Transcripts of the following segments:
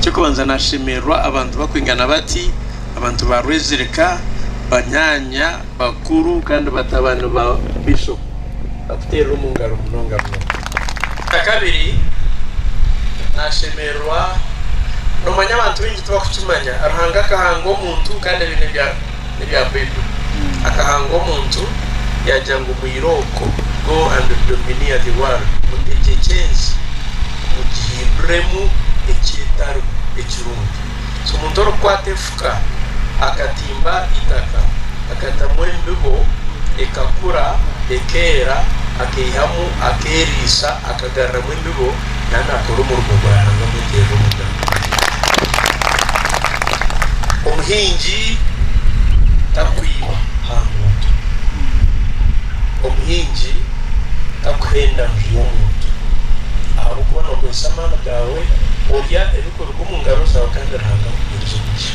Kikonza naashemererwa abantu bakwingana bati, abantu ba Rwezirika, banyaanya, bakuru kandi batabani ba Bishop bakuteerera omu ngaro munonga munonga. Ekyakabiri, naashemererwa noomanya abantu baingi tibakukimanya, Ruhanga akahanga omuntu kandi abaine ebi n'ebya Baibuli. Akahanga omuntu yaagira ngu mwira okwo, Go and domineer the world, mutegyekye ensi, mugihinduremu ekyetari ekirungi. So omuntu orikukwata efuka akatimba eitaka, akatamu embibo ekakura, ekeera, akaihamu, akeeriisa, akagaruramu embibo, nawe naakora omurimo gwa Ruhanga amweteerire omugaati. Omuhingi tarikwiba aha nguuto. Omuhingi tarikuhenda nju y'omuntu. Ahabw'okuba nookoresa amaani gaawe, orya ebirikuruga omu ngaro zaawe kandi Ruhanga akuheereze omugisha.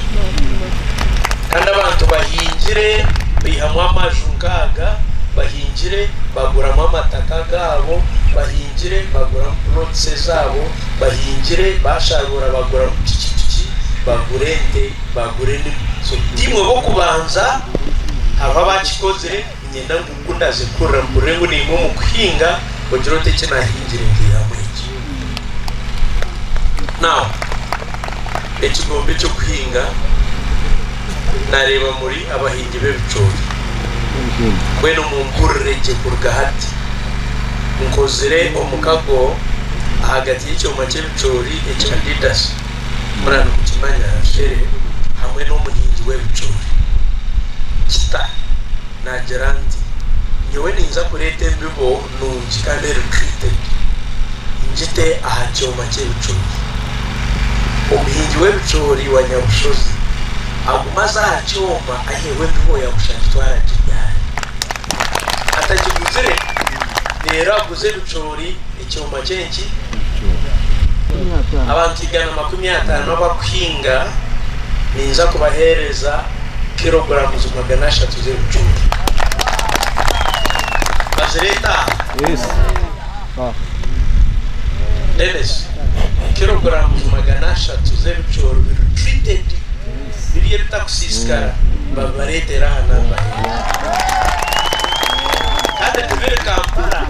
Kandi abantu bahingire, baihamu amaju nk'aga, bahingire baguramu amataka gaabo, bahingire baguramu plots ezaabo, bahingire basharuura baguramu piki piki, bagura ente, bagura enimi, so tiimwe b'okubanza, hariho abaakikozire. Niinyenda ngu ku ndaaze kukurira mpurire ngu niimwe omu kuhinga ogire oti, Eki naahingire ntaihamu eki. Now, ekigombe eky'okuhinga naareeba muri abahingi b'ebicoori. Mbwenu mumpurire gye kuruga hati. Nkozire omukago ahagati y'ekyoma ky'ebicoori ekya Adidas. Mura nimukimanya Racheeli hamwe n'omuhingi w'ebicoori. Kita naagira nti, Nyowe niinza kureeta embibo nungi kandi eritreated ngite aha kyoma ky'ebicoori. Omuhingi w'ebicoori wa nyabushozi aguma aza aha kyoma aiheho embibo ya busha agitware agiryaare. Atagiguzire, reero aguze ebicoori. Ekyoma ky'enki? Abantu igana makumi ataano abakuhinga ninza kubaheereza kiroguramuzi magana ashatu z'ebicucu. Bazireeta aha? Dennis, kiroguramuzi magana ashatu z'ebicoori biri treated. Biri ebitakusiisikara babibareetere aha namba egi. Kandi tibiri Kampala,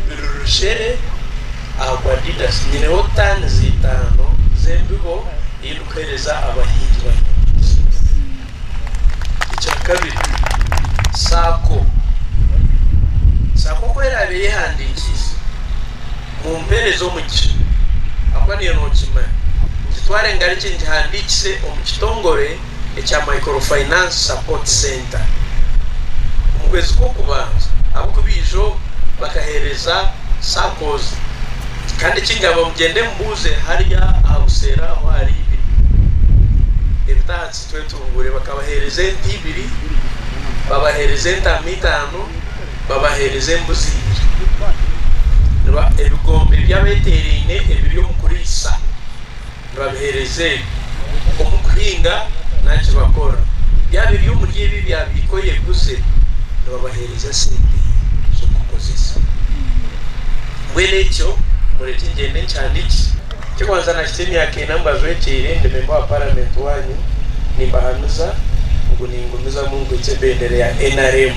biri Rushere ahabwa Adidas. Nyineho taani z'eitaano z'embibo ei ndikuheereza abahingi ba nyawuzi. Ekyakabiri, saako. Saako ku eraabe eyehandiikiise. Mumpeereze omugisha ahakuba niyo nookimanya. Ngitware ngarikye ngihandiikise omu kitongore ekya Microfinance Support Centre omu kwezi kw'okubanza ahabw'oku baijo bakaheereza saccos kandi ekingamba ngu gyende mbuuze hariya aha buseero aho ahari ibiri ebitahatsi twetunguure bakabaheereza ente ibiri babaheereza entaama itaano. babaheereza embuzi ibiri. Reba ebigombe by'abeteeraine ebiri omu kuriisa, nibabiheereza ebi, omu kuhinga naki bakora. Byaba biri omuri ebi ebyabaika oyeguze, nibabaheereza esente z'okukozesa. Mbwenu ekyo mureke ngyende nkihandiikise. Ekyokubanza nakita emyaka ena ngu ajwekyeire ndi memba wa Paramenti waanyu, nimbahanuza ngu ningumizamu nkwitse ebendera ya nrm.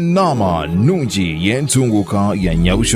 Naama nungi y'entunguuka ya Nyabushozi.